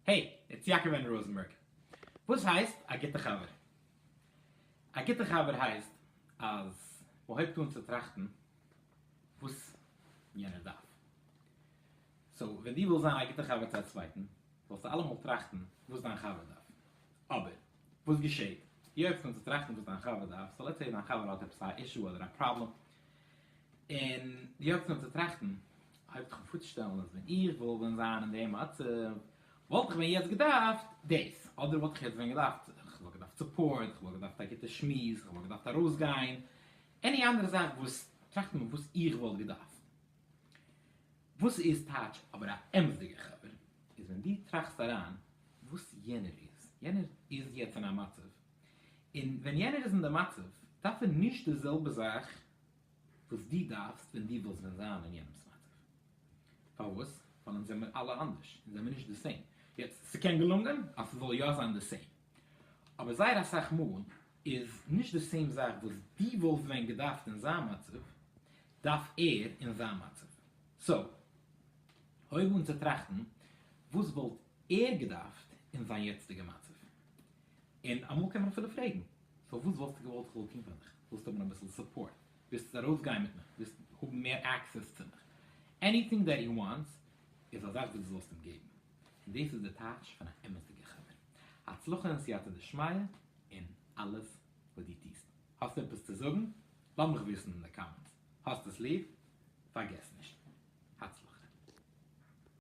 העי, איטס יעקב'ען ראזענבערג. וואס הייסט א גוטע חבר? א גוטע חבר הייסט אז מען הויבט אן צו טראכטן וואס יענער דארף. סאו ווען דו ווילסט זיין א גוטע חבר צו א צווייטן, זאלסטו אלעמאל טראכטן וואס דיין חבר דארף. אבער, וואס געשעהט? דו הויבסט אן צו טראכטן וואס דיין חבר דארף, סאו לעטס סעי דיין חבר האט עפעס א אישו אדער א פראבלעם, און יעצט נאר צו טראכטן, אויב איך וואלט פארצושטעלן אז ווען איך וואלט ווען זיין אין די מצב, וואלט איך ווען יעצט געדארפט דאס, אדער וואלט איך יעצט ווען געדארפט, איך וואלט געדארפט סופארט, איך וואלט געדארפט א גוטע שמועס, איך וואלט געדארפט ארויסגיין, עני אנדערע זאך וואס, טראכט נאר וואס איך וואלט געדארפט. וואס איז טייטש אבער א אמת'דיגער חבר, איז ווען דו טראכסט אריין וואס יענער איז, יענער איז יעצט אין א מצב, און ווען יענער איז אין די מצב דארף ער נישט די זעלבע זאך וואס דו דארפסט ווען דו ווילסט ווען זיין אין יענעמס מצב. פארוואס? ווייל אונז זעמיר אלע אנדערש, אונז זעמיר נישט די סעים. יעצט, ס'קען געלונגען אז ס'זאל יא זיין די סעים, אבער זייער אסאך מאל איז נישט די סעים זאך וואס דו וואלסט ווען געדארפט אין זיין מצב, דארף ער אין זיין מצב. סאו, הויב אן צו טראכטן וואס וואלט ער געדארפט אין זיין יעצטיגע מצב. און אמאל קען מען אפילו פרעגן, פארוואס וואלסטו געוואלט איך זאל טון פאר דיך? ווילסט האבן אביסל סופפארט? ווילסט ארויסגיין מיט מיך? ווילסט האבן מער עקסעס צו מיך? עניטינג דעט הי וואנטס איז א זאך וואס דו זאלסט אים געבן. און דאס איז די טייטש פון א אמת'דיגע חבר. הצלחה און סייעתא דשמיא אין אלעס וואס דו טוסט. האסט עפעס צו זאגן? לאז מיך וויסן אין די קאמענטס. האסט עס ליב? פארגעס נישט. הצלחה.